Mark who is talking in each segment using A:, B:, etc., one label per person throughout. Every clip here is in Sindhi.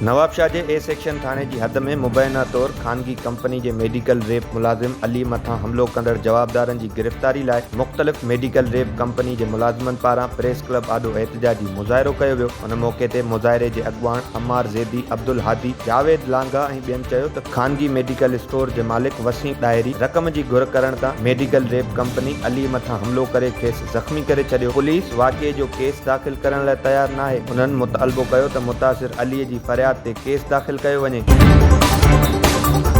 A: نوابشاهه جي اي سيڪشن ٿاڻي جي حد ۾ مبينا طور خانگي ڪمپني جي ميڊيڪل ريپ ملازم علي مٿان حملو ڪندڙ جوابدارن جي گرفتاري لاء مختلف ميڊيڪل ريپ ڪمپني جي ملازمن پاران پريس ڪلب آڏو احتجاجي مظاهرو ڪيو ويو ان موقعي تي مظاهري جي اڳواڻ عمار زيدي عبدالهادي جاويد لانگاهه ۽ ٻين چيو ته خانگي ميڊيڪل اسٽور جي مالڪ وسيم ڏاهري رقم جي گهر ڪرڻ تان ميڊيڪل ريپ ڪمپني علي مٿان حملو ڪري کيس زخمي ڪري ڇڏيو، پوليس واقعي جو ڪيس داخل ڪرڻ لاء تيار ناهي، انهن مطالبو ڪيو ته متاثر علي جي فرياد تي ڪيس داخل ڪيو وڃي.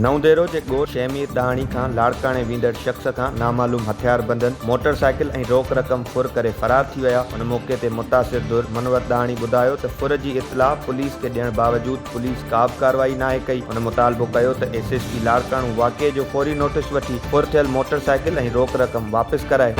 A: نئون ديرو جي ڳوٺ شهمير ڏاهاڻي کان لاڙڪاڻي ويندڙ شخص کان نامعلوم هٿياربندن موٽر سائيڪل ۽ روڪ رقم ڦر ڪري فرار ٿي ويا، ان موقعي تي متاثر ڌر منور ڏاهاڻي ٻڌايو ته ڦر جي اطلاع پوليس کي ڏيڻ باوجود، پوليس ڪا به ڪارروائي ناهي ڪئي، هن مطالبو ڪيو ته ايس ايس پي لاڙڪاڻو واقعي جو فوري نوٽيس وٺي ڦر ٿيل موٽر سائيڪل ۽ روڪ رقم واپس ڪرائي.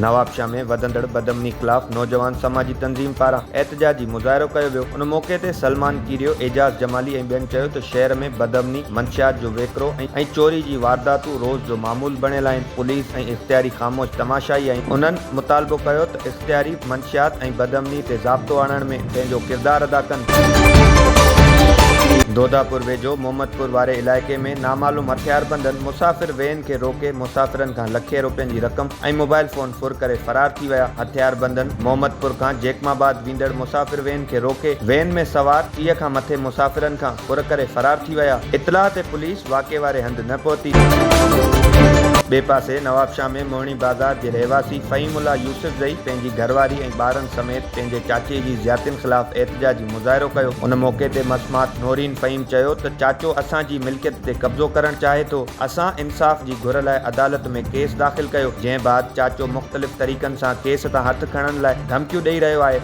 A: نوابشاهه ۾ وڌندڙ بدامني خلاف نوجوان سماجي تنظيم پاران احتجاجي مظاهرو ڪيو ويو، ان موقعي تي سلمان ڪيريو، اعجاز جمالي ۽ ٻين چيو ته شهر ۾ بدامني، منشيات جو ويڪرو ۽ چوري جي وارداتون روز جو معمول بڻيل آهن، پوليس ۽ اختياري خاموش تماشائي آهن، انهن مطالبو ڪيو ته. تعريف، منشيات ۽ بدامني تي ضابطو آڻڻ ۾ پنهنجو ڪردار ادا ڪن. دوداپور ويجهو محمدپور واري علائقي ۾ نامعلوم هٿياربندن مسافر وين کي روڪي مسافرن کان لکين روپين جي رقم ۽ موبائل فون ڦر ڪري فرار ٿي ويا، هٿياربندن محمدپور کان جيڪماباد ويندڙ مسافر وين کي روڪي وين ۾ سوار ٽيهه کان مٿي مسافرن کان. ڦر ڪري فرار ٿي ويا. اطلاع تي پوليس واقعي واري هنڌ نه پهتي. ٻئي پاسي نوابشاهه ۾ موهڻي بازار جي رهواسي فهيم الله يوسفزئي پنهنجي گهرواري ۽ ٻارن سميت پنهنجي چاچي جي زياتين خلاف احتجاجي مظاهرو ڪيو. ان موقعي تي مسمات نورين فهيم چيو ته چاچو اسان جي ملڪيت تي قبضو ڪرڻ چاهي ٿو. اسان انصاف جي گهر لاء عدالت ۾ ڪيس داخل ڪيو جنهن بعد چاچو مختلف طريقن سان ڪيس تان هٿ کڻڻ لاء ڌمڪيون ڏئي رهيو آهي.